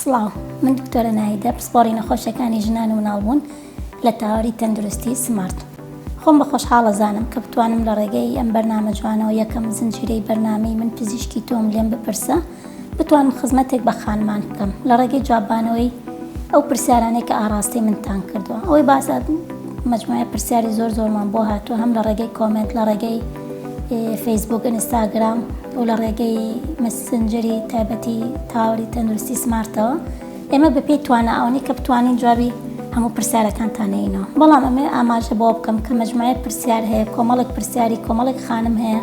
سڵاو من دکتۆرە نایدە پسپۆڕی نەخۆشیەکانی ژنان و مناڵبوون لە تاوەری تەندروستی سمارت خۆم بە خۆشحاڵە زانم کە بتوانم لە ڕێگەی ئەم بەرنامە جوانەوە یەکەم زنجیرەی بەرنامەی من پزیشکی تۆم لێم بپرسە بتوانم خزمەتێک بە خانمان بکەم لە ڕێگەی جوابانەوەی ئەو پرسیارانەی کە ئاڕاستی منتان کردووە ئەوەی باسە مجموعە پرسیاری زۆر زۆرمان بۆ هاتووە هەم لە ڕێگەی کۆمنت لە ڕێگەی فەیسبووک، ئینستاگرام و لە ڕێگەی مەسنجەری تایبەتی تاوەری تەندروستی سمارتەوە ئێمە بەپێی توانە ئەوەنی کە بتوانین جوابی هەموو پرسیارەکانتانەینەوە بەڵام ئەمێ ئاماژە بۆ بکەم کە مەجموعە پرسیار هەیە کۆمەڵێک پرسیاری کۆمەڵێک خانم هەیە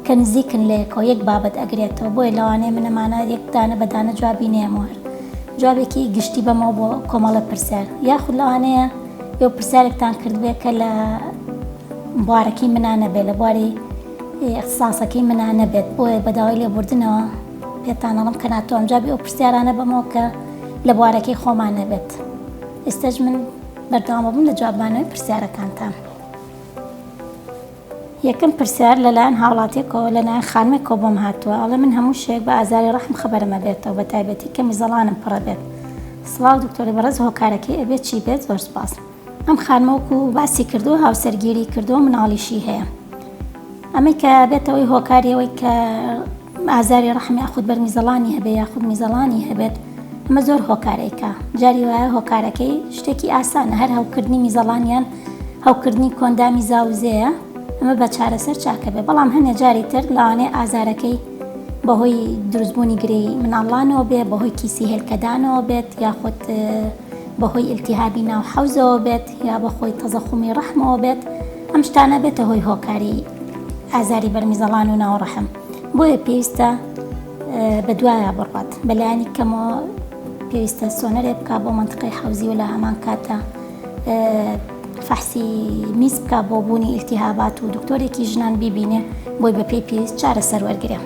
کە نزیکن لەیەکەوە یەک بابەت ئەگرێتەوە بۆیە لەوانەیە منەمانە یەکدانە بەدانە جوابی نێموە جوابێکی گشتی بەمەوە بۆ کۆمەڵە پرسیار یاخود لەوانەیە یو پرسیارێکتان کردبێت کە لە بوارەکەی منا نەبێت، لە بواری ئیختساسەکەی منا نەبێت، بۆیە بە داوای لێبوردنەوە پێتان ئەڵێم کە ناتوانم جوابی ئەو پرسیارانە بەمەوە کە لە بوارەکەی خۆمان نەبێت. ئیستەش من بەردەوام ئەبم لە جوابمانەوەی پرسیارەکانتان. یەکەم پرسیار لە لایەن هاوڵاتیەکەوە لە لایەن خانمێکەوە بۆم هاتووە ئەڵێ من هەموو شەوێک بە ئازاری ڕەحم خەبەرم ئەبێتەوە بە تایبەتی کە میزەڵانم پڕ ئەبێت. سڵاو دکتۆری بەڕێز هۆکارەکەی ئەبێت چی بێت؟ زۆر سوپاس. ئەم خانمە وەکو باسی کردووە هاوسەرگیری کردووە مناڵیشی هەیە ئەمەی کە بێتەوەی هۆکاریەوەی کە ئازاری ڕحمی یاخود بەر میزەڵانی هەبێ یاخود میزەڵانی هەبێت ئەمە زۆر هۆکارێکە جاری وایە هۆکارەکەی شتێکی ئاسانە هەر هەوکردنی میزەڵانیان هەوکردنی کۆندامی زاوزەیە ئەمە بە چارەسەر چاکە بێ بەڵام هەنێ جاری تر لاوانێ ئازارەکەی بەهۆی دروستبوونی گرێی مناڵانەوە بێ بەهۆی کیسی هێلکەدانەوە بێت یاخود بەهۆی ئیلتیهابی ناو حەوزەوە بێت یا بەخۆی تەزەخومی ڕەحمەوە بێت ئەم شتانە بێتە هۆی هۆکاری ئازاری بەرمیزەڵان و ناو ڕەحم بۆیە پێویستە بە دوایە بڕات بەلایانی کەمەوە پێویستە سۆنەرێ بک بۆ منتقی حەوزی و لە هەمان کاتە فەحسی میز بکە بۆ بوونی ئیلتیهابات و دکتۆرێکی ژنان بیبینێ بۆی بە پێی پێویست چارە سەروەرگرێ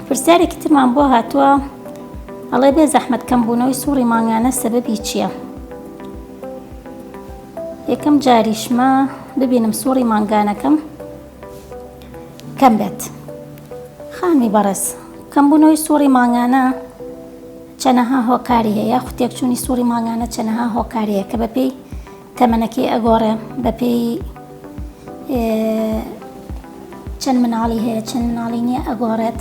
پرسیارێکی ترمان بۆ هاتووە ئەڵێ بێ زەحمەت کەم بوونەوەی سوڕی مانگانە سەبەبی چیە؟ یەکەم جاریشمە ببینم سوڕی مانگانەکەم کەم بێت خانمی بەڕێز کەم بوونەوەی سوڕی مانگانە چەنەها هۆکاری هەیە خوتێکچوونی سوڕی مانگانە چەنەها هۆکاریە کە بەپێی تەمەنەکەی ئەگۆڕێ بەپێی چەند مناڵی هەیە چەند مناڵی نییە ئەگۆڕێت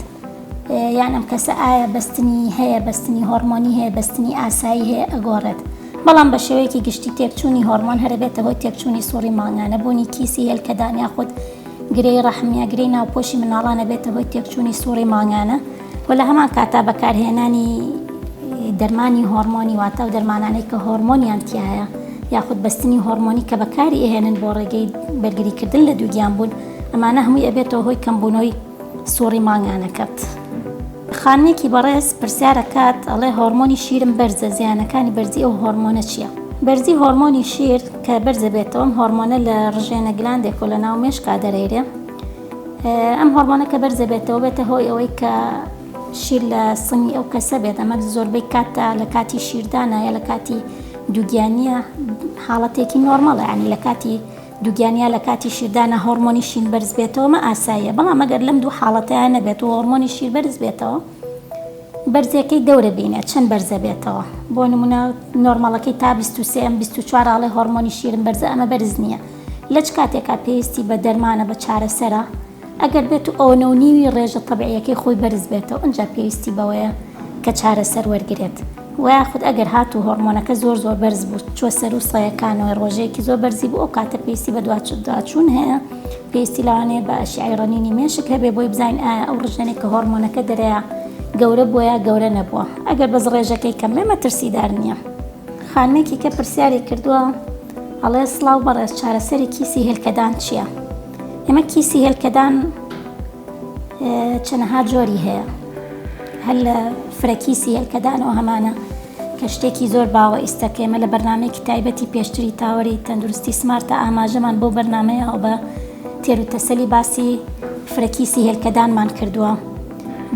یان ئەم کەسە ئایا بەستنی هەیە بەستنی هۆرمۆنی هەیە بەستنی ئاسایی هەیە ئەگۆڕێت بەڵام بە شێوەیەکی گشتی تێکچوونی هۆرمۆن هەربێتە هۆی تێکچوونی سوڕی مانگانە بوونی کیسی هێلکەدان یاخود گرێی ڕەحمیاگرێی ناوپۆشی مناڵانە بێتە هۆی تێکچوونی سوڕی مانگانە و لە هەمان کاتا بەکارهێنانی دەرمانی هۆرمۆنی واتە و دەرمانانەی کە هۆرمۆنیان تایە یاخود بەستنی هۆرمۆنی کە بەکاری ئەهێنن بۆ ڕێگەی بەرگریکردن لە دووگیان بوون ئەمانە هەمووی ئەبێتەوە هۆی کەمبوونەوەی سوڕی مانگانەکەت. خانمێکی بەڕێز پرسیارەکات ئەڵێ هۆرمۆنی شیرم بەرزە زیانەکانی بەرزی ئەو هۆرمۆنە چییە؟ بەرزی هۆرمۆنی شیر کە بەرزەبێتەوەم هۆرمۆنە لە ڕژێنە گلاندێک و لە ناو مێشکا دەرەیرێ، ئەم هۆڕمۆنە کە بەرزە بێتەوە بێتە هۆی ئەوەی کە شیر لە سنگی ئەو کەسە بێت ئەمە زۆربەی کاتدا لە کاتی شیردانە یا لە کاتی دووگیانە حاڵەتێکی نۆرمەڵە ینی لە کاتی دووگیانە لە کاتی شیردانە هۆرمۆنی شین بەرز بێتەوەمە ئاساییە بەڵام مەگەر لەم دوو حاڵەتیان نەبێت و هۆرمۆنی شیر بەرز بێتەوە بەرزەکەی دەورە بینە چەند بەرزە بێتەوە بۆ نمونە نۆرمەڵەکەی تا 23 ئەم 24 ڕاڵی هۆرمۆنی شیرم بەرزە ئەمە بەرز نییە لە چ کاتێکا پێویستی بە دەرمانە بە چارەسەرە ئەگەر بێتو ئەوە نەو نیوی ڕێژە تەبعیەکەی خۆی بەرز بێتەوە ئەجا پێویستی بەوەیە کە چارەسەر وەرگرێت وەیاخود ئەگەر هاتو هۆڕمۆنەکە زۆر زۆر بەرز بو چوە سەرو سەیەکانەوەی ڕۆژەیەکی زۆر بەرزی بو ئەو کاتە پێویستی بە دواچوون هەیە پێویستی لەوانەیە بە ئەشیعەی ڕەنینی مێشک هەبێ بۆی بزانین ئایا ئەو ڕژێنەی کە هۆڕمۆنەکە دەرەیا گەورە بوە یا گەورە نەبوە ئەگەر بەس ڕێژەکەی کەم بێ مەترسیدار نیە. خانمێکی کە پرسیاری کردوە. ئەڵێ، سڵاو بەڕێز چارەسەری کیسی هێلکەدان چیە؟ ئێمە کیسی هێلکەدان چەنەها جۆری هەیە هەر لە فرە کیسی هێلکەدانەوە هەمانە کە شتێکی زۆر باوە ئیستا کە ئێمە لە بەرنمەیەکی تایبەتی پێشتری تاوەری تەندروستی سمارتە ئاماژەمان بۆ بەرنمەیە ئەو بە تێر و تەسەلی باسی فرە کیسی هێلکەدانمان کردووە.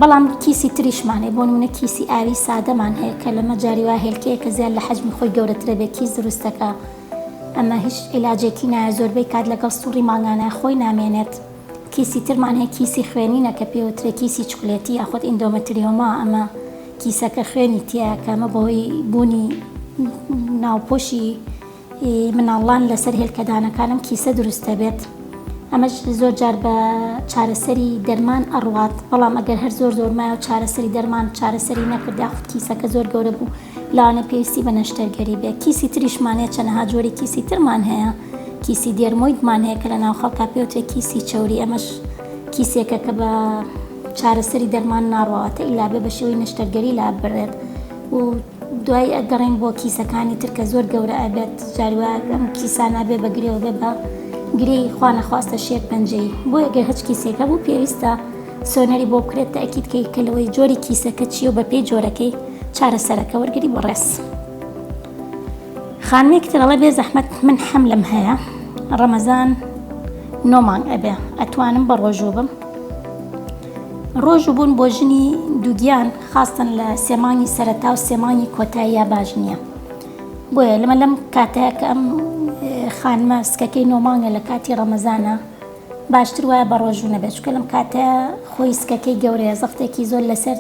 بەڵام کیسی تریشمان هەیە، بۆ نموونە کیسی ئاوی سادەمان هەیە کە لەمە جاری وایە هێلکەیەکە زیاد لە حەجمی خۆی گەورەترە بێ کیس دروست دەکا ئەمە هیچ عیلاجێکی نایە زۆربەی کات لەگەڵ سوڕی مانگانە خۆی نامێنێت. کیسی ترمان هەیە کیسی خوێنینە کە پێوترێ کیسی چوکلێتی یاخود ئیندۆمەتریۆما ئەمە کیسەکە خوێنی تیایە کە ئەمە بەهۆی بوونی ناوپۆشی ی مناڵان لەسەر هێلکەدانەکانم کیسە دروست دەبێت ئەمەش زۆر جار بە چارەسەری دەرمان ئەڕوات بەڵام ئەگەر هەر زۆر زۆر مایە و چارەسەری دەرمان چارەسەری نەکرد یاخود کیسەکە زۆر گەورە بوو لەوانەیە پێویستی بە نەشتەرگەری بێت کیسی تریشمان هەیە چەنەها جۆری کیسی ترمان هەیە کیسی دێرمۆیدمان هەیە کە لە ناو خەڵکا پێوترێت کیسی چەوری ئەمەش کیسێکە کە بە چارەسەری دەرمان ناڕواتە ئیلا بێ بە شێوەی نەشتەرگەری لاببرێت و دوایی ئەگەڕێین بۆ کیسەکانی تر کە زۆر گەورە ئەبێت جاری وا ئەم کیسانە بێ بە گرێ و بێ بە گرێی خوا نەخواستە شێر پەنجەیی بۆیە گەر هەچ کیسێک هەبوو پێویستە سۆنەری بۆ بکرێت تەئکید کەی کە لەوەی جۆری کیسەکە چیە و بەپێی جۆرەکەی چارەسەرەکە وەرگری بۆ ڕێز خانمێکی تر ئەڵێ بێ زەحمەت من حەملم هەیە ڕەمەزان نۆ مانگ ئەبێ ئەتوانم بە ڕۆژوو بم ڕۆژوو بوون بۆ ژنی دووگیان خاستن لە سێ مانگی سەرەتا و سێ مانگی کۆتاییا باش نییە بۆیە لەمە لەم کاتەیە کە ئەم خانمە سکەکەی نۆمانگە لە کاتی ڕەمەزانە باشتر وایە بە ڕۆژوو نەبێت چکە لەم کاتە خۆی سکەکەی گەورەیە زەختێکی زۆر لەسەر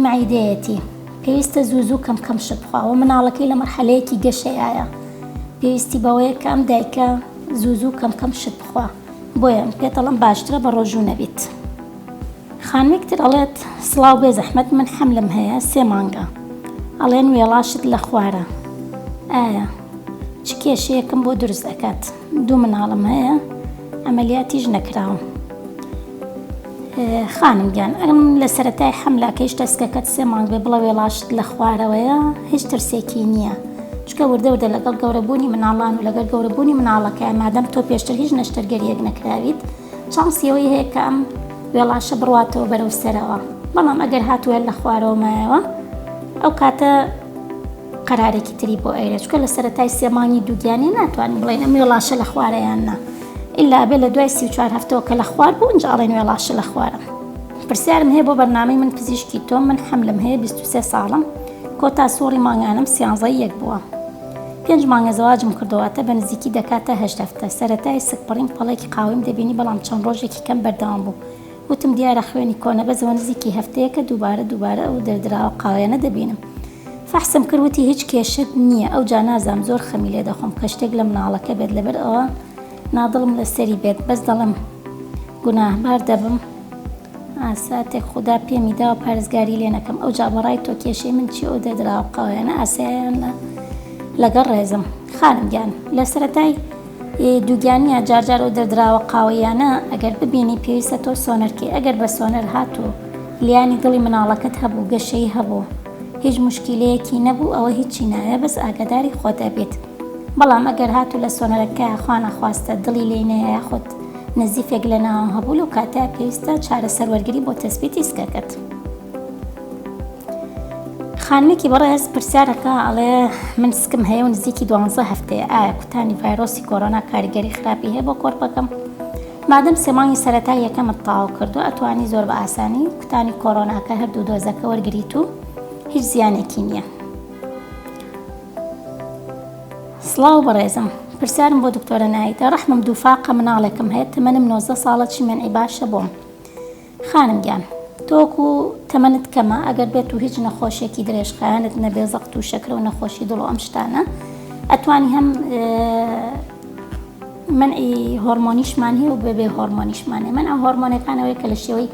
معیدەیەتی پێویستە زوو زوو کەم کەم شت بخواوە مناڵەکەی لە مەرحەلەیەکی گەشەیە پێویستی بەوەیە کە ئەم دایکە زوو زوو کەم کەم شت بخوا بۆیە پێتەڵم باشترە بە ڕۆژوو نەبیت. خانمێک تر ئەڵێت، سڵاو بێ زەحمەت من حەملم هەیە سێ مانگە ئەڵێن وێڵاشت لە خوارە ئایە چ کێشەیەکم بۆ دروست ئەکات دوو مناڵم هەیە ئەمەلیاتیش نەکراوم خانم گیان ئەم لە سەتای حەملاکەیش تەسکەکەت سێ مانگ بێ بڵە وێڵاشت لە خوارەوەیە هیچ ترسێکی نییە چکە وردە وردە لەگەڵ گەورەبوونی مناڵان و لەگەر گەورەبوونی مناڵەکە مادەم تۆ پێشتر هیچ نەشتەرگەریەک نەکراویت چانسی ئەوەی هەیە کە ئەم وێڵاشە بڕواتەوە بەرەو سەرەوە، بەڵام ئەگەر هات و هەر لە خوارەوە مایەوە ئەو کاتە قەرارێکی تری بۆ ئەیرێ، چونکە لە سەرەتای سێ مانگی دووگیانی ناتوانین بڵێین ئەم وێڵاشە لە خوارە یان نا، ئیلا ئەبێ لە دوای سی و چوار هەفتەوە کە لە خوار بوو ئینجا ئەڵێین وێڵاشە لە خوارە. پرسیارم هەیە بۆ بەرنامەی من پزیشکی تۆم، من حەملم هەیە بیست و سێ ساڵم، کۆتا سوڕی مانگانەم سیانزەی یەک بووە، پێنج مانگە زەواجم کردووە واتە بە نزیکی دەکاتە هەشت هەفتە، سەرەتای سکپڕیم پەڵێکی قاوەیم دەبینی بەڵام چەند ڕۆژێکی کەم بەردەوام بوو، وتم دیارە خوێنی کۆنە بەس ئەوە نزیکی هەفتەیەکە دووبارە دووبارە ئەو دەردراوە قاوەیانە دەبینم، فەحسم کرد وتی هیچ کێشەت نییە، ئەوجا نازانم زۆر خەمی لێ دەخۆم کە شتێک لە مناڵەکە بێت لەبەر ئەوە نادڵم لەسەری بێت بەس دەڵێم گوناهبار دەبم، ساتێک خودا پێمی داوە پارێزگاری لێ نەکەم ئەوجا بە ڕای تۆ کێشەی من چیە ئەو دەدراوە قاوەیانە ئاساییانە لەگەڵ ڕێزم خانم گیان لە سەرەتای دووگیانە جارجار ئەو دەدراوە قاوەیانە ئەگەر ببینی پێویستە تۆ سۆنەرکەی ئەگەر بە سۆنەر هاتوو لیانی دڵی مناڵەکەت هەبوو گەشەی هەبوو هیچ مشکیلەیەکی نەبوو ئەوە هیچی ناوێ بەس ئاگاداری خۆت ئەبیت بەڵام ئەگەر هاتوو لە سۆنەرەکە خوا نەخواستە دڵی لێی نەیە یاخود نزیفێک لە ناوم هەبوو لەو کاتە پێویستە چارەسەر وەرگری بۆ تەسبیتی سکەکەت خانمێکی بەڕێز پرسیارەکە ئەڵێ من سکم هەیە و نزیکی دوانزە هەفتەیە ئایا کوتانی ڤایرۆسی کۆرۆنا کاریگەری خراپی هەیە بۆ کۆرپەکەم مادەم سێمانگی سەرەتا یەکەمت تاو کردو ئەتوانی زۆر بە ئاسانی کوتانی کۆرۆناکە هەردوو دۆزەکە وەرگریت و هیچ زیانێکی نییە سڵاو بەڕێزم پرسیارم بۆ دکتۆرە نایدە ڕەحمم دووفاقە مناڵێکم هەیە تەمەنم نۆزدە ساڵە چی مەنعی باشە بۆم خانم گیان تۆک و تەمەنت کەمە ئەگەر بێت و هیچ نەخۆشێکی درێژخایەنت نەبێ زەقت و شەکرە و نەخۆشی دڵ ئەم شتانە ئەتوانی هەم منعی هۆرمۆنیشمان هەیە و بەبێ هۆرمۆنیشمانێ من ئەم هۆرمۆنەکانەوەی کە لە شێوەی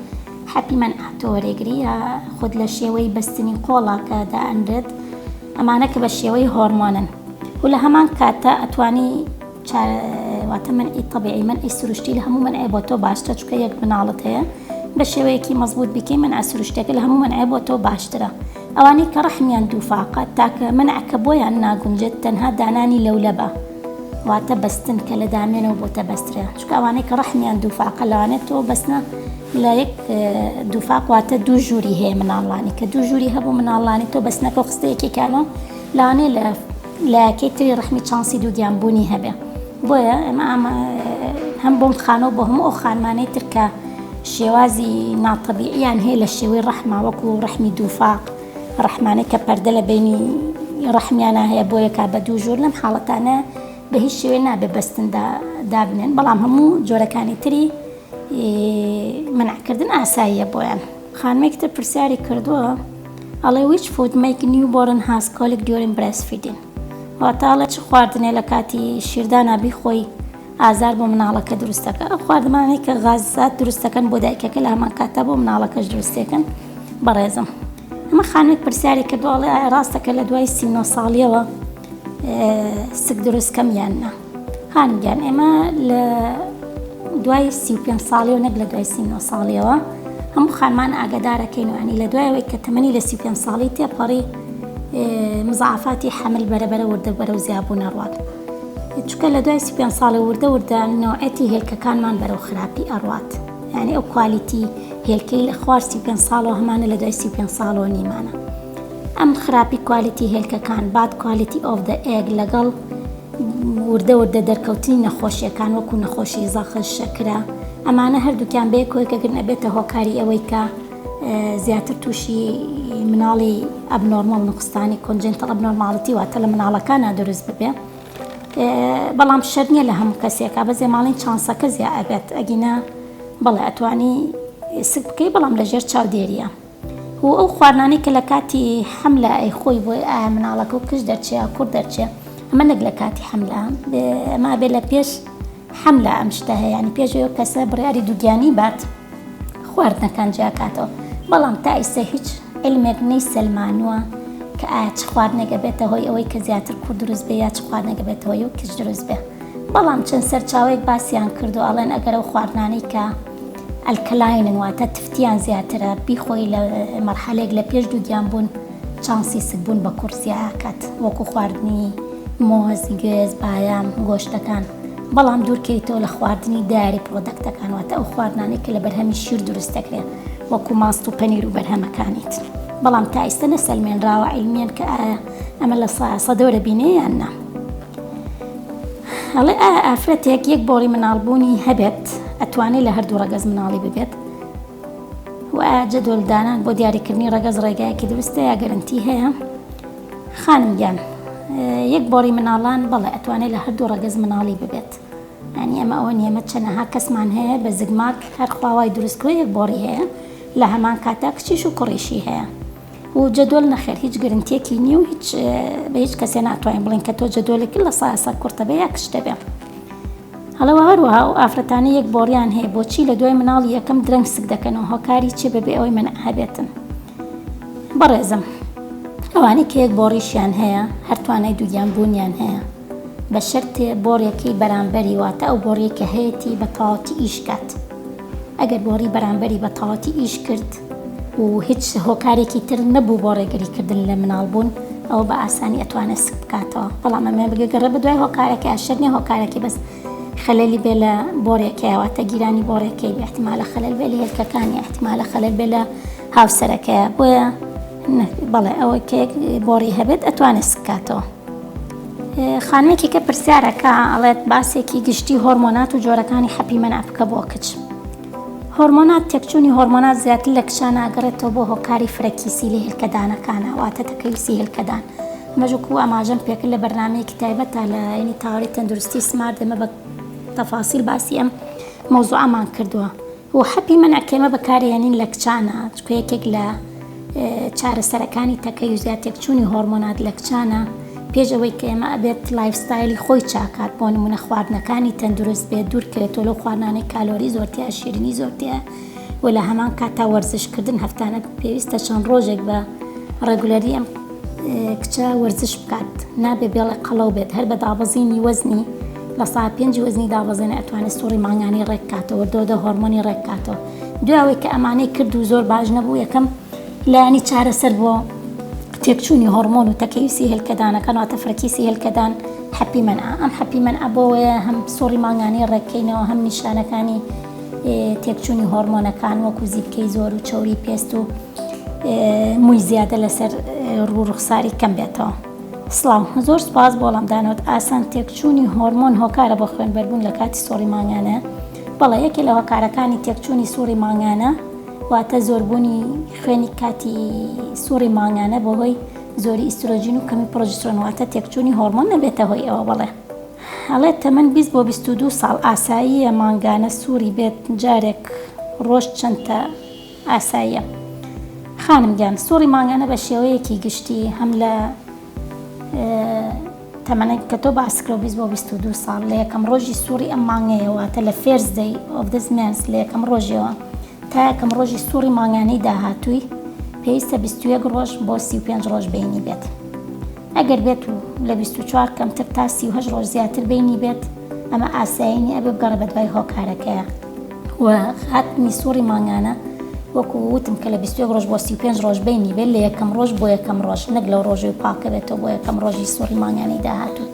حەتیمەن ئاتۆ وەرێگری یا خود لە شێوەی بەستنی قۆڵە کە دائەنرێت ئەمانە کە بە شێوەی هۆرمۆنن و لە هەمان کاتدا ئەتوانی چا واتە منعی طبیعی منعی سروشتی لە هەموو منعێ بۆ تۆ باشترە چونکە یەک مناڵت هەیە بە شێوەیەکی مەزبوط بیکەی منعە سروشتیەکە لە هەموو منعێ بۆ تۆ باشترە. ئەوانەی کە ڕەحمیان دووفاقە تاکە مەنعە کە بۆیان ناگونجێت تەنها دانانی لەولەبە واتە بەستن کە لە دامێنەوە بۆتە بەسترێ چونکە ئەوانەی کە ڕەحمیان دووفاقە لەوانێت تۆ بەسنە لە یەک دووفاق واتە دوو ژووری هەیە مناڵانی کە دوو ژووری هەبوو مناڵانی تۆ بەسنەکە خستە یەکێکانەوە لانێ لە لایەکەی تری ڕەحمی چانسی دووگیان بوونی هەبێ بۆیە ئەمە ئامە هەم بۆم خانەوە بۆ هەموو ئەو خانمانەی ترکە شێوازی ناتەبیعیان هەیە لە شێوەی ڕەحما وەکو ڕەحمی دووفاق ڕەحمانە کە پەردە لە بینی ڕەحمیانە هەیە بۆ یەکا بە دوو ژۆر لەم حاڵەتانە بە هیچ شێوێ نابێ بەستندا دابنێن بەڵام هەموو جۆرەکانی تری منعکردن ئاساییە بۆیان. خانمێکی تر پرسیاری کردووە ئەڵێ which food make new born has colic during breastfeeding واتە ئەڵێ چ خواردنێ لە کاتی شیردانا بیخۆی ئازار بۆ مناڵەکە دروستەکە ئەو خواردمانەی کە غازات دروستەکەن بۆ دایکەکە لە هەمان کاتە بۆ مناڵەکەش دروستێکن بەڕێزم ئەمە خانێک پرسیاری کە دواڵێ ڕاستەکە لە دوای سی ساڵیەوە سک دروست کەم یاننا هانی گیان ئێمە لە دوای سی و پێنج ساڵیەوە نەک لە دوای سی نۆ ساڵیەوە هەموو خانمان ئاگادارەکەین وانی لە دوایەوەی کە تەمەنی لە سی پێنج ساڵی تێپەڕی مزعافاتی حەمل بەرەبەرە وردە بەرە و زیابوو نەڕوات چکە لە دوای سی پێنج ساڵی وردە وردە نەوەتی هێلکەکانمان بەرەو خراپی ئەڕات یعنی ئەو کوالیتی هێلکەی لە خوار سی پێنج ساڵەوە هەمانە لە دوای سی پێنج ساڵەوە نیمانە ئەم خراپی کوالیتی هێلکەکان باد کوالیتی ئۆف دە ئێگ لەگەڵ وردە وردە دەرکەوتنی نەخۆشیەکان وەکو نەخۆشی زەخر، شەکرە، ئەمانە هەردووکیان بەیەک کۆیکەگرن ئەبێتە هۆکاری ئەوەی کە زیاتر تووشی مناڵی ئەبنۆرمۆ نقستانی کۆنجنتڵ ئەبنۆرماڵتی واتە لە مناڵەکانە دروست ببێ بەڵام شەر نییە لە هەموو کەسێکە بە زێماڵین چانسەکە زیاد ئەبێت ئەگینا بەڵێ ئەتوانی سک بکەی بەڵام لەژێر چاودێریە. و ئەو خواردنانەی کە لە کاتی حەملە ئەیخۆی بۆی ئایا مناڵەکە و کچ دەرچێ یا کوڕ دەرچێ ئەمە نەک لە کاتی حەملە ئەمە ئەبێ لە پێش حەملە ئەم شتە هەیە یانی پێش ئەو کەسە بڕیاری دووگیانی بات خواردنەکان جیاکاتەوە بەڵام تا ئیسە هیچ علمێک نەی سەلمانووە کە ئایا چ خواردنێکە بێتە هۆی ئەوەی کە زیاتر کوڕ دروست بێ یا چ خواردنێکە بێتەوە و کچ دروست بێ بەڵام چەند سەرچاوەیەک باسیان کردو ئەڵێن ئەگەر ئەو خواردنانەی کە ئەلکەلاینن واتە تفتیان زیاترە بیخۆی لە مەرحەلێک لە پێش دووگیان بوون چانسی سکبوون بە کوڕ زیاکات وەکو خواردنی مۆز گوێز بایان گۆشتەکان بەڵام دوورکەیتەوە لە خواردنی داری پرۆدەکتەکان واتە ئەو خواردنانێک کە لە بەرهەمی شیر دروست دەکرێت وەکو ماست و پەنیر و بەرهەمەکانیت بەڵام تا ئیستا نەسەلمێنراوە علمیان کە ئایا ئەمە لە سەدەوە دەبینێ یان نا ئەڵێ ئایا ئافرەتێک یەک بۆڕی مناڵبوونی هەبێت ئەتوانێت لە هەردوو ڕەگەز مناڵی ببێت و جەدۆلدانان بۆ دیاریکردنی ڕەگەز ڕێگایەکی دروستە یا گەرنتی هەیە خانم گیان یەک بۆڕی مناڵان بەڵێ ئەتوانێت لە هەردوو ڕەگەز مناڵی ببێت ئەنی ئەمە ئەوە نیەمە چەنەها کەسمان هەیە بە زگماک هەر خواوای دروستکوێ یەک بۆڕی هەیە لە هەمان کاتە کچیش و کوڕیشی هەیە و جەدۆل نەخێر هیچ گرنتیەکی نیە و هیچ بە هیچ کەسێ ناتوانین بڵێن کە تۆ جەدۆلێکی لە سایە سە کورتە بێ یا کچتە بێ هەڵەوە هەروەها و ئافرەتانی یەک بۆڕیان هەیە بۆچی لە دوای مناڵی یەکەم درەنگ سک دەکەنەوە هۆکاری چی بەبێ ئەوەی من هەبێتن بەڕێزم ئەوانی کە یەک بۆڕیشیان هەیە هەرتوانای دووگیان بوونیان هەیە بە شەرتێ بۆڕێکی بەرامبەری واتە ئەو بۆڕیەکە هەیەی بە تەواتی ئیشکات ئەگەر بۆڕی بەرامبەری بە تەواتی ئیش کرد و هیچ هۆکارێکی تر نەبوو بۆ ڕێگری کردن لە مناڵ بوون ئەوە بە ئاسانی ئەتوانێت سک بکاتەوە بەڵام ئەمێ بگەگەڕێ بە دوای هۆکارەکە شەر نیە هۆکارەکەی بەس خەلەلی بێ لە بۆرێکەیە واتە گیرانی بۆرێکەی بێ احتمالە خەلەل بێ لە هێلکەکانی احتمالە خەلەل بێ لە هاوسەرەکەیە بۆیە بەڵێ ئەوە کێک بۆڕی هەبێت ئەتوانێت سکاتەوە خانەیەکی کە پرسیارەکە ئەڵێت باسێکی گشتی هۆرمۆنات و جۆرەکانی حەپی مەنافکە بۆ کچ هۆرمۆنات، تێکچوونی هۆرمۆنات زیاتر لە کچان ئەگەڕێتەوە بۆ هۆکاری فرەکیسی لە هێلکەدانەکانا واتە تەکەیوسی هێلکەدان. ئەمەش وەکو ئاماژەم پێکرد لە بەرنامەیەکی تایبەتا لە ینی تاوەری تەندروستی سمارت ئێمە بە تەفاسیل باسی ئەم مەوزوعەمان کردووە. و حەپی مەنع کە ئێمە بەکاری ئەنین لە کچانا چونکە یەکێک لە چارەسەرەکانی تەکەی و زیادتێکچوونی هۆرمۆنات لە کچانە پێش ئەوەی کە ئێمە ئەبێت لایفستایلی خۆی چاکات بۆ نمونە خواردنەکانی تەندروست بێت دوورکەوێتەوە لەو خواردنانەی کالۆری زۆرتیا شیرنی زۆرتیا و لە هەمان کاتا وەرزشکردن هەفتانە پێویستە چەند ڕۆژێک بە ڕێگولەری ئەم کچە وەرزش بکات نابێ بێڵە قەڵەو بێت هەر بە دابەزینی وەزنی لە سا پێنج وەزنی دابەزێنە ئەتوانێت سوڕی مانگانی ڕێککاتەوە دۆدە هۆرمۆنی ڕێککاتەوە دوای ئەوەی کە ئەمانەی کرد و زۆر باش نەبوو یەکەم لایەنی چارەسەر بۆ تێکچوونی هۆرمۆن و تەکەیوسی هێلکەدانەکان واتە فرەکیسی هێلکەدان حەپی من ئەم حەپی من ئەبەوەیە هەم سۆری مانگانەی ڕێککەینەوە هەم نیشانەکانی تێکچوونی هۆرمۆنەکان وەکو زیبکەی زۆر و چوری پێست و مووی زیادە لەسەر ڕوو ڕوخساری کەم بێتەوە. سلااو زۆر سپاس بۆڵام دانوت ئاسان تێکچوونی هۆرمۆن هۆکارە بۆ خوێن بەربوون لە کاتی سۆری مانگانە بەڵێ یەکێ لە هۆکارەکانی تێکچوونی سوڕی مانگانە واتە زۆربوونی خوێنی کاتی سوڕی مانگانە بۆ هۆی زۆری ئیسترۆجین و کەمی پرۆجسترۆن واتە تێکچوونی هۆرمۆن نەبێتە هۆی ئەوە بەڵێ هەڵێت تەمەن 20 بۆ 22 ساڵ ئاساییە مانگانە سووری بێت جارێک ڕۆژ چەندتە ئاساییە خانم گیان سوڕی مانگانە بە شێوەیەکی گشتی هەم لە تەمەنەک کە تۆ باست کرد بیست بۆ بیست و دوو ساڵ لە یەکەم ڕۆژی سوڕی ئەم مانگەیە واتە لە فێرست دەی ئۆف دس مێنس لە یەکەم ڕۆژیەوە تا یەکەم ڕۆژی سوڕی مانگانەی داهاتووی پێویستە بیست و یەک ڕۆژ بۆ سی و پێنج ڕۆژ بینی بێت ئەگەر بێت و لە بیست و چوار کەمتر تا سی و هەشت ڕۆژ زیاتر بینی بێت ئەمە ئاسایینی ئەبێ بگەڕێ بە دوای هۆکارەکەیە. و هاتنی سوڕی مانگانە وەکو وتم کە لە 21 ڕۆژ بۆ 35 ڕۆژ بینی بێت لە یەکەم ڕۆژ بۆ یەکەم ڕۆژ نەک لەو ڕۆژەوە پاکە بێتەوە بۆ یەکەم ڕۆژی سوڕی مانگانەی داهاتوو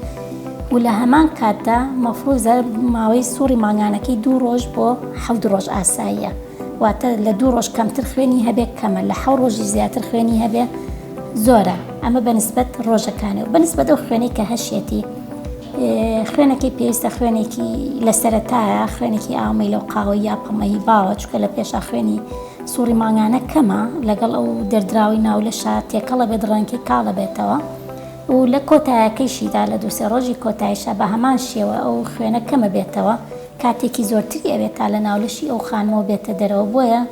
و لە هەمان کاتدا مەفروزە ماوەی سوڕی مانگانەکەی دوو ڕۆژ بۆ حەود ڕۆژ ئاساییە واتە لە دوو ڕۆژ کەمتر خوێنی هەبێت کەمە لە حەو ڕۆژی زیاتر خوێنی هەبێت زۆرە ئەمە بەنسبەت ڕۆژەکانی و بەنسبەت ئەو خوێنەی کە هەشێتی خوێنەکەی پێویستە خوێنێکی لە سەرەتایە خوێنێکی ئاومەی لەو قاوە یا پەمەی باوە چکە لە پێشا خوێنی سوڕی مانگانە کەمە لەگەڵ ئەو دەردراوی ناولەشە تێکەڵە بێت ڕەنکی کاڵە بێتەوە و لە کۆتایەکەیشیدا لە دووسێ ڕۆژی کۆتایشە بە هەمان شێوە ئەو خوێنە کەمە بێتەوە کاتێکی زۆرتری ئەوێت تا لە ناولەشی ئەو خانمەوە بێتە دەرەوە بۆیە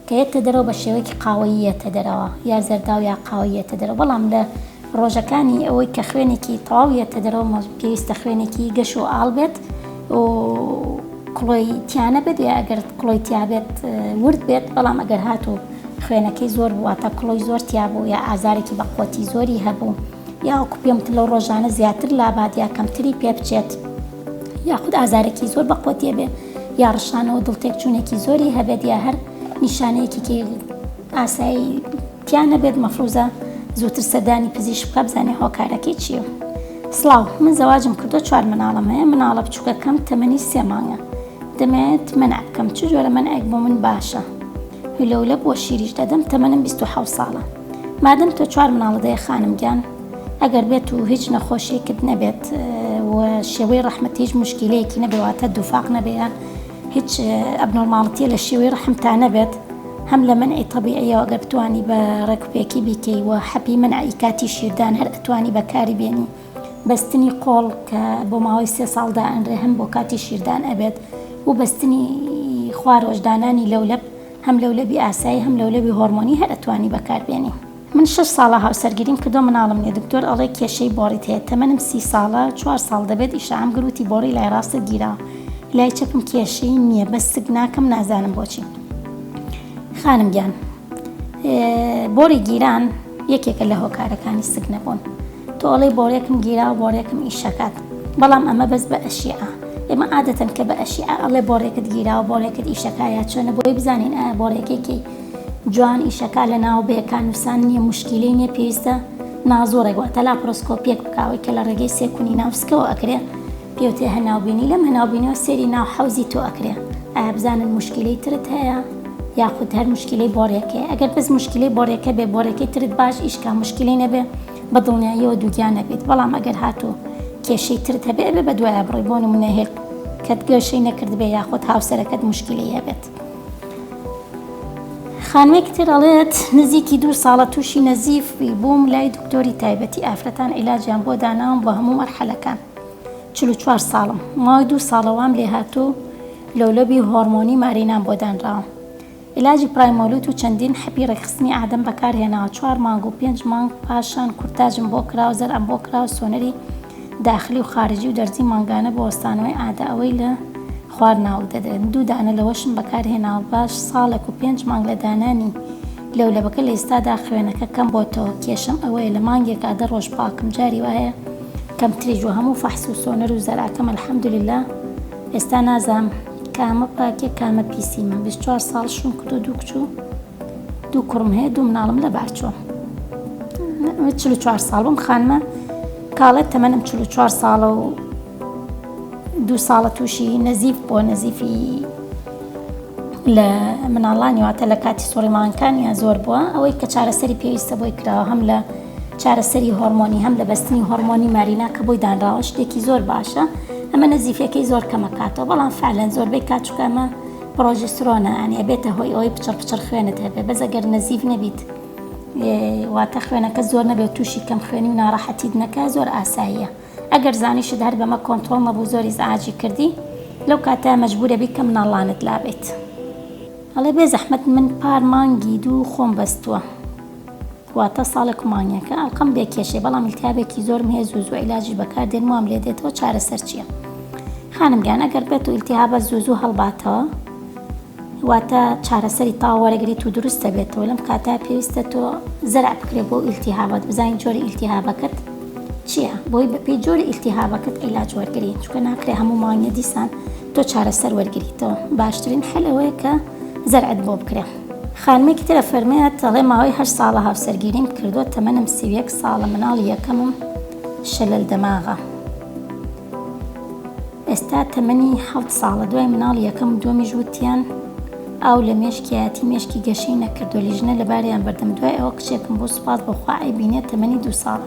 دێتە دەرەوە بە شێوەیەکی قاوەیی یێتە دەرەوە یا زەرداو یا قاوەیی یێتە دەرەوە بەڵام لە ڕۆژەکانی ئەوەی کە خوێنێکی تەواو یێتە دەرەوە مە پێویستە خوێنێکی گەش و ئاڵ بێت و کڵۆی تیانە بێت یا ئەگەر کڵۆی تیابێت ورد بێت بەڵام ئەگەر هات و خوێنەکەی زۆر بواتە کڵۆی زۆر تیابوو یا ئازارێکی بەقوەتی زۆری هەبوو یاوەکو پێم تلە ڕۆژانە زیاتر لابات یا کەمتری پێ بچێت. یاخود ئازارێکی زۆر بە قوەتی بێ یا ڕشانەوە دڵتێکچوونێکی زۆری هەبێت یا هەر نیشانەیەکیی ئاسایی تیا نەبێت مەفروزە زووتر سەردانی پزیش بکە بزانێ هۆکارەکەی چیە سلااو من زەواجم کردو چوار مناڵم هەیە مناڵە بچووکەکەم تەمەنی سێ مانگە دەمەوێت منع بکەم چ جۆرە منعێک بۆ من باشە هولەولە بۆ شیریش دەدەم تەمەنم بیست و حەوت ساڵە مادەم تۆ چوار مناڵت هەیە خانم گیان ئەگەر بێت و هیچ نەخۆشیەکت نەبێت و شێوەی ڕەحمت هیچ مشکیلەیەکی نەبێ واتە دووفاق نەبێ یان هیچ ئەبنۆرماڵتیە لە شێوەی ڕەحمتا نەبێت هەم لە منعی تەبیعیەوە ئەگەر بتانی بە ڕێکوپێکی بیکەی و حەپی منعی کاتی شیردان هەر ئەتوانی بەکاری بێنی بەستنی قۆڵ کە بۆ ماوەی سێ ساڵ دائەنرێ هەم بۆ کاتی شیردان ئەبێت و بەستنی خوارۆژدانانی لەولەب هەم لەولەبی ئاسایی هەم لەولەبی هۆرمۆنی هەر ئەتوانی بەکاربێنی. من شەش ساڵە هاوسەرگیریم کردوە مناڵم نیە دکتۆر ئەڵێ کێشەی بۆڕیت هەیە تەمەنم سی ساڵە چوار ساڵ دەبێت ئیشەعەم گر وتی بۆڕی لای ڕاستت گیراوە لای چەپم کێشەی نیە بەس سک ناکەم نازانم بۆچی خانم گیان بۆری گیران یەکێکە لە هۆکارەکانی سک نەبوون تۆ ئەڵێ بۆرێکم گیراوە بۆرێکم ئیشەکات بەڵام ئەمە بەس بە ئەشیعە ئێمە عادەتەن کە بە ئەشیعە ئەڵێ بۆرێکت گیراوە بۆرێکت ئیشەکایە چۆنە بۆی بزانین ئایا بۆرێکێکی جوان ئیشەکا لە ناوەبەیەکا نوسان نیە موشکیلەی نیە پێویستە نازوڕێک واتە لاپرۆسکۆپیەک بکاوەی کە لە ڕێگەی سێ کونی ناو سکەوە ئەکرێ پێوتێ هەناوبینی لەم هەناوبینەوە سێری ناو حەوزی تۆ ئەکرێ ئایا بزانن موشکیلەی ترت هەیە یاخود هەر مشکلەی بۆڕێکەیە ئەگەر بەس مشکلەی بۆڕێکە بێ بۆڕێکی ترت باش ئیشکا مشکلی نەبێ بە دڵنیاییەوە دووگیان نەبێت بەڵام ئەگەر هاتوو کێشەی ترت هەبێ بێ بە دوایە بڕۆی بۆ نمونە هێل کەت گەشەی نەکردبێ یاخود هاوسەرەکەت مشکلی هەبێت خانمێکی تر ئەڵێت نزیکی دوو ساڵە تووشی نەزیف بووم لای دکتۆری تایبەتی ئافرەتان عیلاجیان بۆ داناوم بۆ هەموو مەرحەلەکان چلو چوار ساڵم ماوەی دوو ساڵەوام لێ هاتوو لۆلەبی هۆرمۆنی مارینان بۆ دانراوە عیلاجی پرایمۆلوت و چەندین حەپی ڕێکخستنی ئادەم بەکارهێناوە چوار مانگ و پێنج مانگ پاشان کورتاجم بۆ کراو زەرعم بۆ کراو سۆنەری داخلی و خارجی و دەرزی مانگانە بۆ وەستانەوەی عادە ئەوەی لە خوار ناوک دەدرێن دوو دانە لەوەشم بەکار هێناوە باش ساڵێک و پێنج مانگ لە دانانی لەولەبەکە لە ئیستادا خوێنەکە کەم بۆتەوە کێشەم ئەوەیە لە مانگێکا دە ڕۆژ پاکم جاری وایە کەمتریش و هەموو فەحس و سۆنەر و زەرعەکەم الحمدللە ئێستا نازانم کامە پاکیە کامە پیسی من بیست چوار ساڵ شوم کردوە دوو کچ و دوو کوڕم هەیە دوو مناڵم لە بارچۆ چل چوار ساڵ بم خانمە کاڵێت تەمەنم چل چوار ساڵە و دوو ساڵە تووشی نەزیف بۆ نەزیفی لە مناڵانی واتە لە کاتی سوڕیمانکانیان زۆر بووە ئەوەی کە چارەسەری پێویستە بۆی کراوە هەم لە چارەسەری هۆرمۆنی هەم لە بەستنی هۆرمۆنی مارینا کە بۆی دانراوە شتێکی زۆر باشە ئەمە نەزیفەکەی زۆر کەمەکاتەوە بەڵام فعلەن زۆربەی کاتچکەمە پڕۆژیسترۆنە یانی ئەبێتە هۆی ئەوەی پچڕ پچڕ خوێنت هەبێت بەس ئەگەر نەزیف نەبیت واتە خوێنەکە زۆر نەبێت تووشی کەم خوێنی و ناڕەحەتیت نەکە زۆر ئاساییە ئەگەر زانیشت هەر بەمە کۆنتترۆڵ نەبوو زۆری زعاجی کردی لەو کاتە مەجبورە بی کەم ناڵانت لابێت هەڵێ بێ زەحمت من پار مانگی دوو خۆم بەستووە. واتە ساڵێک و مانگێکە ئەڵقەم بێ کێشەیە بەڵام ئیلتیابێکی زۆرم هەیە زوو زوو عیلاجیش بەکار دێنم وام لێ دێتەوە چارەسەر چیە خانم گیان ئەگەر بێت و ئیلتیهابە زوو زوو هەڵباتەوە واتە چارەسەری تاو وەرەگریت و دروستە بێتەوە لەم کاتا پێویستە تۆ زەرع بکرێت بۆ ئیلتیهابات بزانین جۆری ئیلتیهابەکەت چییە بۆی بەپی جۆری ئیلتیهابەکەت عیلاج وەرگری چکە ناکرێ هەموو مانگە دیسان تۆ چارەسەر وەرگریتەوە باشترین حل ئەوەیە کە زەرعت بۆ بکرێ خانمێکی تر ئەفەرمێت، دەڵێ ماوەی هەشت ساڵە هاوسەرگیریم کردووە، تەمەنم سی و یەک ساڵە، مناڵی یەکەمم شلل دەماغە، ئێستا تەمەنی حەوت ساڵە، دوای مناڵی یەکەم و دووەمیش وتیان ئاو لە مێشکیایەتی، مێشکی گەشەی نەکردووە، لیژنە لەباریان بردم، دوای ئەوە کچێکم بوو سوپاس بۆ خوا ئەیبینێت تەمەنی دوو ساڵە،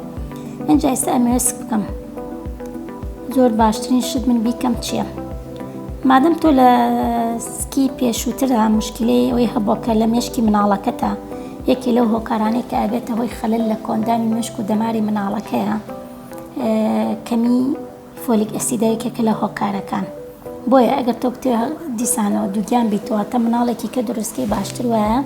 ئینجا ئێستا ئەمەوێت سک بکەم، زۆر باشترین شت من بیکەم چییە؟ مادەم تۆ لە سکی پێشووترا مشکلەی ئەوەی هەبووە کە لە مێشکی مناڵەکەتە یەکێ لەو هۆکارانەی کە ئەبێتە هۆی خەلل لە کۆندانی مێشک و دەماری مناڵەکەیە کەمی فۆلیک ئەسیدە یەکێکە لە هۆکارەکان بۆیە ئەگەر تۆ بتێ دیسانەوە دووگیان بیتواتە مناڵێکی کە دروستکەی باشتر وایە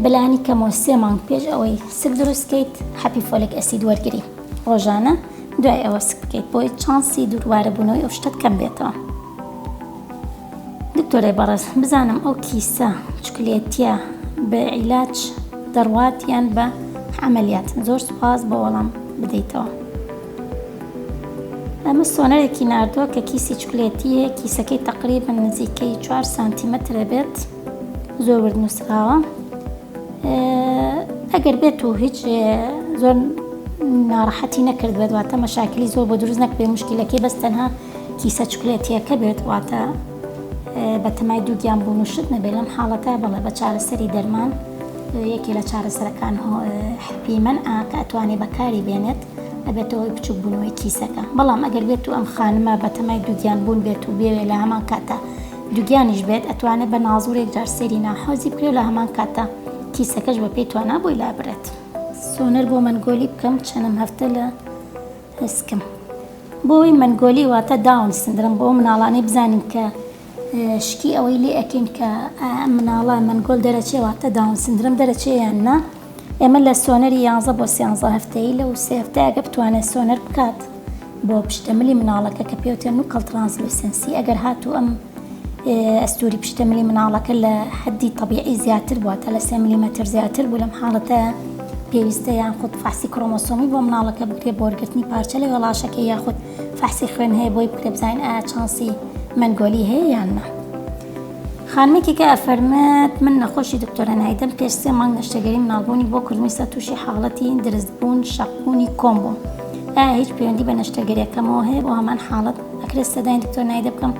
بەلانی کەمەوە سێ مانگ پێش ئەوەی سک دروست کەیت حەپی فۆلێک ئەسید وەرگری ڕۆژانە دوای ئەوە سک بکەیت بۆی چانسی دووروارە بوونەوەی ئەو شتەت کەم بێتەوە دکتۆرای بەڕێز بزانم ئەو کیسە چکلێتیە بە عیلاج دەڕوات یان بە عملیات زۆر سوپاس بۆ وەڵام بدەیتەوە. ئەمە سۆنەرێکی ناردووە کە کیسی چکلێتییە، کیسەکەی تەقریبەن نزیکەی چوار سانتیمەتر ئەبێت، زۆر ورد نووسراوە. ئەگەر بێت و هیچ زۆر ناڕەحەتی نەکردبێت، واتە مەشاکلی زۆر بۆ دروست نەکبێت، مشکیلەکەی بەس تەنها کیسە چکلێتییەکە بێت، واتە بەتەمای دووگیان بوون و شت نەبێت لەم حاڵەتە بەڵێ بە چارەسەری دەرمان یەکێ لە چارەسەرەکان حپیمەن ئا کە ئەتوانێ بەکاری بێنێت ئەبێتەوەی بچوک بوونەوەی کیسەکە بەڵام ئەگەر بێت و ئەم خانمە بەتەمای دووگیان بوون بێت و بێوێ لە هەمان کاتە دووگیانیش بێت ئەتوانێت بە نازورێک جار سێری ناحۆزی بکرێ لە هەمان کاتە کیسەکەش بە پێی توانا بۆی لابرێت سۆنەر بۆ مەنگۆلی بکەم چەنم هەفتە لە ئەسکم. بۆی مەنگۆلی واتە داون سندرۆم بۆ ئەو مناڵانەی بزانین کە شکی ئەوەی لێ ئەکەین کە ئایا ئەم مناڵە مەنگۆل دەرەچێ واتە داون سندرۆم دەرەچێ یان نا ئێمە لە سۆنەری یانزە بۆ سیانزە هەفتەیی لە و سێ هەفتەیەکە بتوانێت سۆنەر بکات بۆ پشتە ملی مناڵەکە کە پێوتێن و کەڵترانسلوسنسی ئەگەر هاتوو ئەم ئەستووری پشتەملی مناڵەکە لە حەددی تەبیعی زیاتر بووە، تا لە سێ ملیمەتر زیاتر بوو، لەم حاڵەتە پێویستە یانخود فەحسی کرۆمۆسۆمی بۆ مناڵەکە بکرێت بۆ وەرگرتنی پارچە لە وێڵاشەکەی یاخود فەحسی خوێن هەیە بۆی بکرێت بزانین ئایا چانسی مەنگۆلی هەیە یان نا. خانمێکیکە ئەفەرمێت، من نەخۆشی دکتۆرە نایدەم، پێش سێ مانگ نەشتەگەری مناڵبوونی بۆ کردمیسا تووشی حاڵەتی درزبوون، شەقبوونی کۆم بووم، ئایا هیچ پەیوەندی بە نەشتەگەرییەکەمەوە هەیە بۆ هەمان حاڵەت؟ ئەکرێت سەدای دکتۆر نایدە بکەم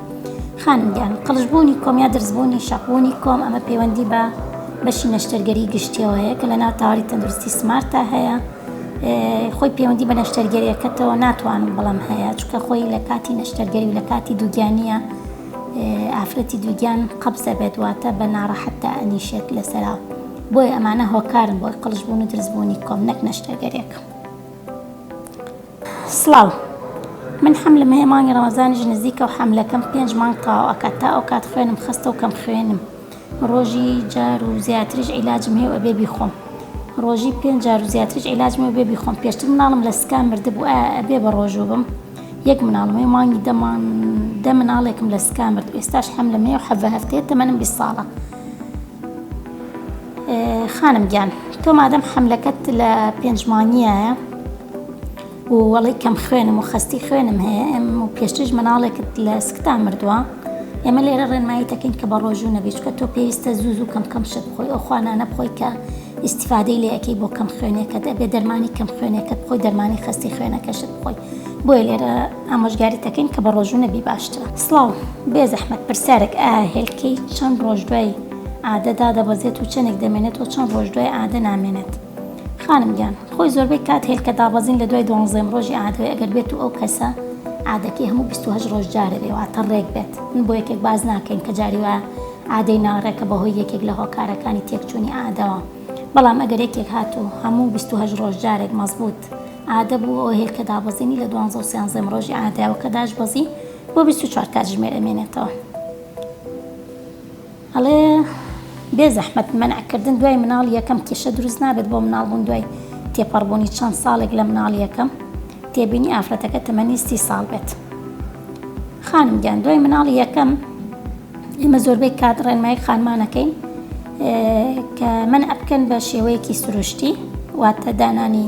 خانم گیان قڵش بوونی کۆم یا درز بوونی شەق بوونی کۆم ئەمە پەیوەندی بە بەشی نەشتەرگەری گشتیەوە هەیە کە لە ناو تاواری تەندروستی سمارتە هەیە خۆی پەیوەندی بە نەشتەرگەریەکەتەوە ناتوانم بەڵام هەیە چکە خۆی لە کاتی نەشتەرگەری و لە کاتی دووگیانە ئافرەتی دووگیان قەبزە بێت واتە بە ناڕەحەت تا ئەنیشێت لەسەرا بۆی ئەمانە هۆکارن بۆی قلش بوون و درزبوونی کۆم نەک نەشتەرگەرێکم سڵاو من حەملم هەیە مانگی ڕەمەزانیش نزیکە و حەملەکەم پێنج مانگ تەواو ئەکات تا ئەوکات خوێنم خەستە و کەم خوێنم ڕۆژی جار و زیاتریش عیلاجم هەیە و ئەبێ بیخۆم ڕۆژی پێنج جار و زیاتریش عیلاجم ئەبێ بیخۆم پێشتر مناڵم لە سکان مردبوو ئایا ئەبێ بە ڕۆژوو بم یەک مناڵم هەیە مانگی دە مانگ دە مناڵێکم لە سکان مرد ئێستاش حەملم هەیە و حەڤە هەفتەیە تەمەنم بیست ساڵە خانم گیان تۆ مادەم حەملەکەت لە پێنج مانگیایە و وەڵی کەم خوێنم و خەستی خوێنم هەیە ئەم و پێشتریش مناڵێکت لە سکتا مردووە ئێمە لێرە ڕێنمایی دەکەین کە بە ڕۆژوو نەبیچکە تۆ پێویستە زوو زوو کەم کەم شت بخۆی ئەو خوانانە بخۆی کە ئیسیفادەی لە یەکەی بۆ کەم خوێنەکە دەبێ دەرمانی کەم خوێنەکەت بخۆی دەرمانی خەستی خوێنەکەشت بخۆی بۆیە لێرە ئامۆژگاری دەکەین کە بە ڕۆژوو نەبی باشترە سڵاو بێ زەحمەت پرسیارێک ئا هێلکەی چەند ڕۆژ دوای عادە دادەبەزێت و چەندێک دەمێنێت و چەند ڕۆژ دوای عادە نامێنێت خانم گیان خۆی زۆربەی کات هێلکە دابەزین لە دوای دوانزەم ڕۆژی عادەوەی ئەگەر بێت و ئەو کەسە عادەکەی هەموو بیست و هەشت ڕۆژ جارێ بێ واتە ڕێک بێت من بۆ یەکێک باس ناکەین کە جاری وایە عادەی ناڕێکە بەهۆی یەکێک لە هۆکارەکانی تێکچوونی عادەوە بەڵام ئەگەر یەکێک هات و هەموو بیست و هەشت ڕۆژ جارێک مەزبووت عادە بوو ئەو هێلکە دابەزینی لە دوانزە و سیانزەم ڕۆژی عادەوەکە داشبەزی بۆ بیست و چوار کاتژمێر ئەمێنێتەوە ئەڵێ، بێ زەحمەت مەنع کردن دوای مناڵی یەکەم کێشە دروست نابێت بۆ مناڵ بوون دوای تێپەڕ بوونی چەند ساڵێک لە مناڵی یەکەم؟ تێبینی، ئافرەتەکە تەمەنی سی ساڵ بێت. خانم گیان دوای مناڵی یەکەم ئێمە زۆربەی کات ڕێنمایی خانمان ئەکەین کە مەنع بکەن بە شێوەیەکی سروشتی واتە دانانی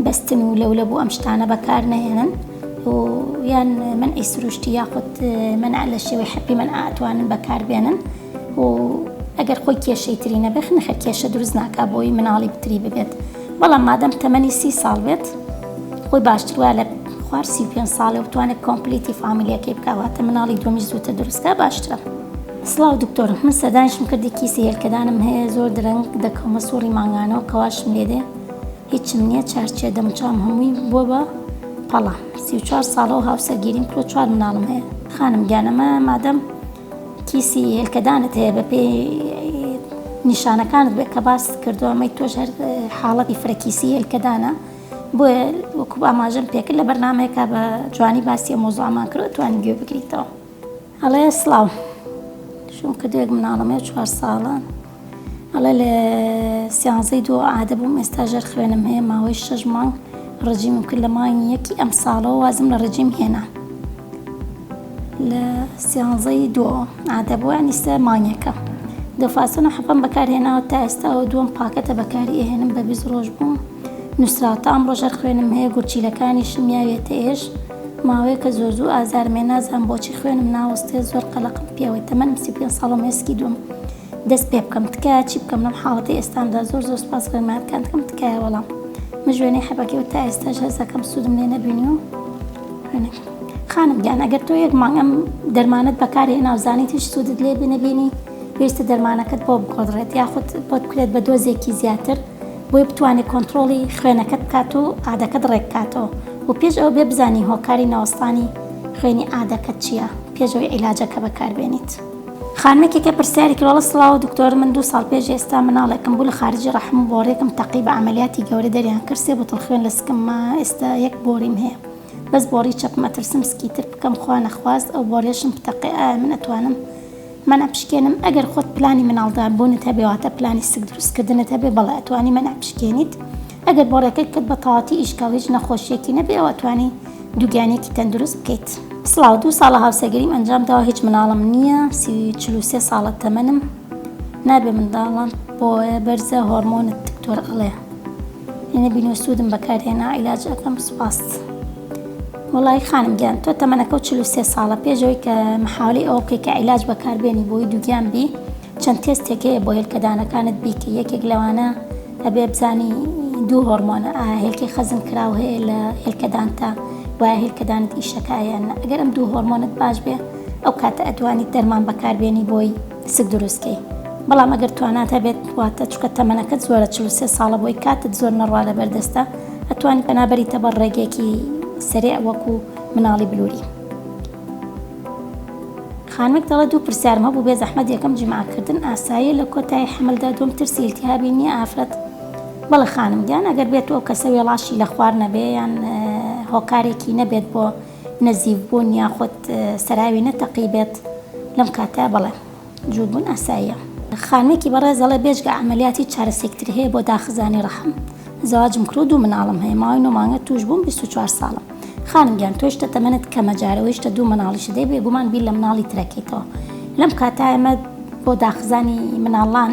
بەستن و لەولەب و ئەم شتانە بەکار نەهێنن. و یان مەنعی سروشتی یاخود مەنع لە شێوەی حەپی مەنع ئەتوانن بەکاربێنن و ئەگەر خۆی کێشەی تری نەبێت نەخێر کێشە دروست ناکا بۆی مناڵی پتری ببێت بەڵام مادەم تەمەنی سی ساڵ بێت خۆی باشتر وایە لە خوار سی پێ ساڵێ و بتوانێت کۆمپلیتی فامیلیەکەی بکواتە مناڵی دومیش زووتە دروستکە باشترە. سڵاو دکتۆر من سەردانیشم کردی کیسی هێلکەدانم هەیە زۆر درەنگ دەکەومە سوڕی مانگانەوە کەواشم لێدێ هیچم نیە چار چیە دەموچاوم هەمووی بوە بە پەڵە سی و چوار ساڵە و هاوسەرگیریم کردوە چوار مناڵم هەیە خانم گیان ئەمە مادەم کیسی هێلکەدانت هەیە بە پێی نیشانەکانت بێت کە باست کردو ئەمەی تۆش هەر حاڵەتی فرەکیسی هێلکەدانە بۆیە وەکو ئاماژەم پێکرد لە بەرنمەیەکە بە جوانی باسی مۆزۆمان کرد توانین گوێ بگریتەوە. ئەڵێ سڵاو شوم کردێک مناڵەمێ چوار ساڵە ئەڵێ لە سیانزەی دووە عادە بووم ئێستا ژەر خوێنم هەیە ماوەی شەش مانگ ڕژیمم کرد لە مانگی یەکی ئەم ساڵەوە وازم لە ڕژیم هێنا لە سیانزەی دۆ عادە بووە نیستە مانگەکە دەفاسن و حەپم بەکارهێناوە تا ئێستاەوە دووەم پاکەتە بەکاری ئەهێنم بە بیست ڕۆژ بووم نووسراوتە ئەم ڕۆژەر خوێنم هەیە گورچیلەکانی شمیاوێتە ئێش ماوەیەکە زۆر زوو ئازارمێ نازانم بۆچی خوێنم ناوەستێ زۆر قەلەقم پێوەی تەمەنم سی و پێنج ساڵە مێسکی دووم دەست پێ بکەم تکایە چی بکەم لەم حاڵەتی ئێستامدا زۆر زۆر سپاس ڕێنمایەکانتکەم تکایە وەڵام مژوێنەی حەبەکەی و تا ئێستاش هەرزەکەم سوودم لێ نەبینی و خانم گیان ئەگەر تۆ یەک مانگ ئەم دەرمانەت بەکارهێناو زانیت هیچ سوودت لێ بنەبینی پێویستە دەرمانەکەت بۆ بقۆدڕێت یاخود بۆت بکرێت بە دۆزێکی زیاتر بۆی بتوانێت کۆنتترۆڵی خوێنەکەت بکات و ئادەکەت ڕێککاتەوە و پێش ئەو بێ بزانانی هۆکاری نەوەستانی خوێنی ئادەکەت چییە پێشەوەی عیلاجەکە بەکاربێنیت. خانمێکێکە پرسیاری کراڵە سڵاو دکتۆر من دوو ساڵ پێش ئێستا مناڵێکم بوو لە خارجی ڕەحم و بۆڕێکم تەقی بە عملیاتی گەورە دەریان کرد سێ بوتڵ خوێن لە سکمما ئێستا یەک بۆریم هەیە بەس بۆڕی چەپم ئەترسم سکیتر بکەم خوا نەخواست ئەو بۆڕیەشم بتەقێ ئایا من ئەتوانم مەنع بشکێنم ئەگەر خۆت پلانی مناڵدار بوونت هەبێ واتە پلانی سک دروست کردنت هەبێ بەڵێ ئەتوانی مەنع بشکێنیت ئەگەر بۆڕیەکەت کرد بە تەواتی ئیشکا و هیچ نەخۆشیەکی نەبێ ئەوا ئەتوانی دووگیانیەکی تەندروست بکەیت. سڵاو دوو ساڵە هاوسەگەریم ئەنجام داوە هیچ مناڵم نییە سی چل و سێ ساڵە تەمەنم. نابێ منداڵان بۆیە بەرزە هۆڕمۆنت دکتۆر ئەڵێ ئینە بینۆ سوودم بەکارهێنا عیلاج ئەکەم سوپاس وڵی خانم گیان تۆ تەمەەکە و 43 ساڵە پێشەوەی کە محاولی ئەو بکەی کە عیلاج بەکاربێنی بۆی دووگیان بی چەند تێستێک هەیە بۆ هێلکەدانەکانت بیکە یەکێک لەوانە ئەبێ بزانی دوو هۆرمۆنە هێلکی خەزم کراو هەیە لە هێلکەدانتە وایە هێلکەدانت ئیشەکایەن ئەگەرم دوو هۆرمۆنت باش بێ ئەو کاتە ئەتوانیت دەرمان بەکار بێنی بۆی سک دروست کەی بەڵام ئەگەر توانات هەبێت واتە چکە تەمەنەکەت زۆرە چل و سێ ساڵە بۆی کاتت زۆر نەڕوا لەبەر دەستە ئەتوانی پەنا بەریتە بەر ڕێگێکی سەرێع وەکو مناڵی بلوری خانمێک دەڵێ دوو پرسیارم هەبوو بێ زەحمەت یەکەم جیماکردن ئاساییە لە کۆتایی حەملدا دوم ترسی التهابی نییە ئافرەت بەڵێ خانم گیان ئەگەر بێت ئەو کەسە وێڵاشی لە خوار نەبێ یان هۆکارێکی نەبێت بۆ نزیک بوون یاخود سەراوی نەتەقی بێت لەم کاتە بەڵێ جووت بوون ئاساییە. خانمێکی بەڕێز دەڵێت، بێجگە عەمەلیات هیچ چارەسەیەک تر هەیە بۆ داخزانی ڕەحم؟ زەواجم کردووە دوو مناڵم هەیە ماوەی نۆ مانگە تووش بووم بیست و چوار ساڵم خانم گیان تۆش تە تەمەنت کەمە جارەوەیشتە دوو مناڵیشت هەیە بێگومان بیر لە مناڵی ترەکەیتەوە لەم کاتە ئێمە بۆ داخزانی مناڵان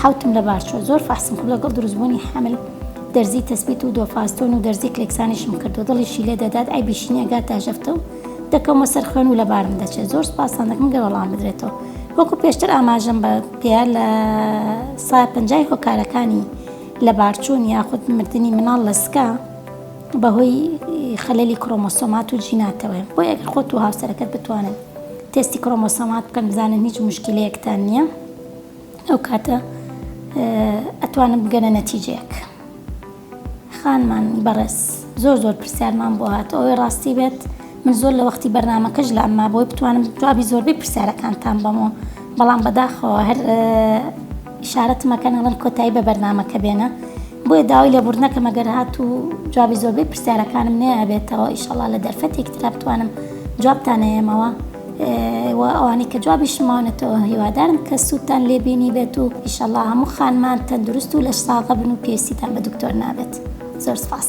حەوتم لە بار چوە زۆر فەحسم کرد لەگەڵ دروستبوونی حەمل دەرزی تەسبیت و دۆفاستۆن و دەرزی کلێکسانیشم کردو دڵیشی لێ دەدات عەیبیشی نیە گا تاژەفتە و دەکەومە سەر خوێن و لە بارم دەچێت زۆر سوپاستان دەکەم گەر وەڵام بدرێتەوە وەکو پێشتر ئاماژەم بە پێیا لە سا پەنجای هۆکارەکانی لە بارچوون یاخود مردنی مناڵ لە سکە بەهۆی خەلەلی کرۆمۆسۆمات و جیناتەوەی بۆ یەک خۆت و هاوسەرەکەت بتوانن تێستی کرۆمۆسۆمات بکەن بزانن هیچ مشکلەیەکتان نییە ئەو کاتە ئەتوانم بگەنە نەتیجەیەک خانمان بەڕێز زۆر زۆر پرسیارمان بۆ هات ئەوەی ڕاستی بێت من زۆر لە وەختی بەرنمەکەش لە ئەمما بۆی بتوانم جوابی زۆربەی پرسیارەکانتان بەمەوە بەڵام بەداخەوە هەر شارەتمەکەن ئەڵم کۆتایی بە بەرنمەکە بێنە بۆیە داوای لە بردنەکە مەگەر هات و جوابی زۆربەی پرسیارەکانم نەیەبێتەوە ئیشەڵا لە دەرفەتێکترا بتوانم جوابتانەیەمەوە و ئەوانەی کە جوابیشم ماونەتەوە هیوادارم کە سوودتان لێبینی بێت و ئیشەڵا هەموو خانمان تەندروست و لەش ساغە بن و پێویستیتان بە دکتۆر نابێت زۆر سپاس.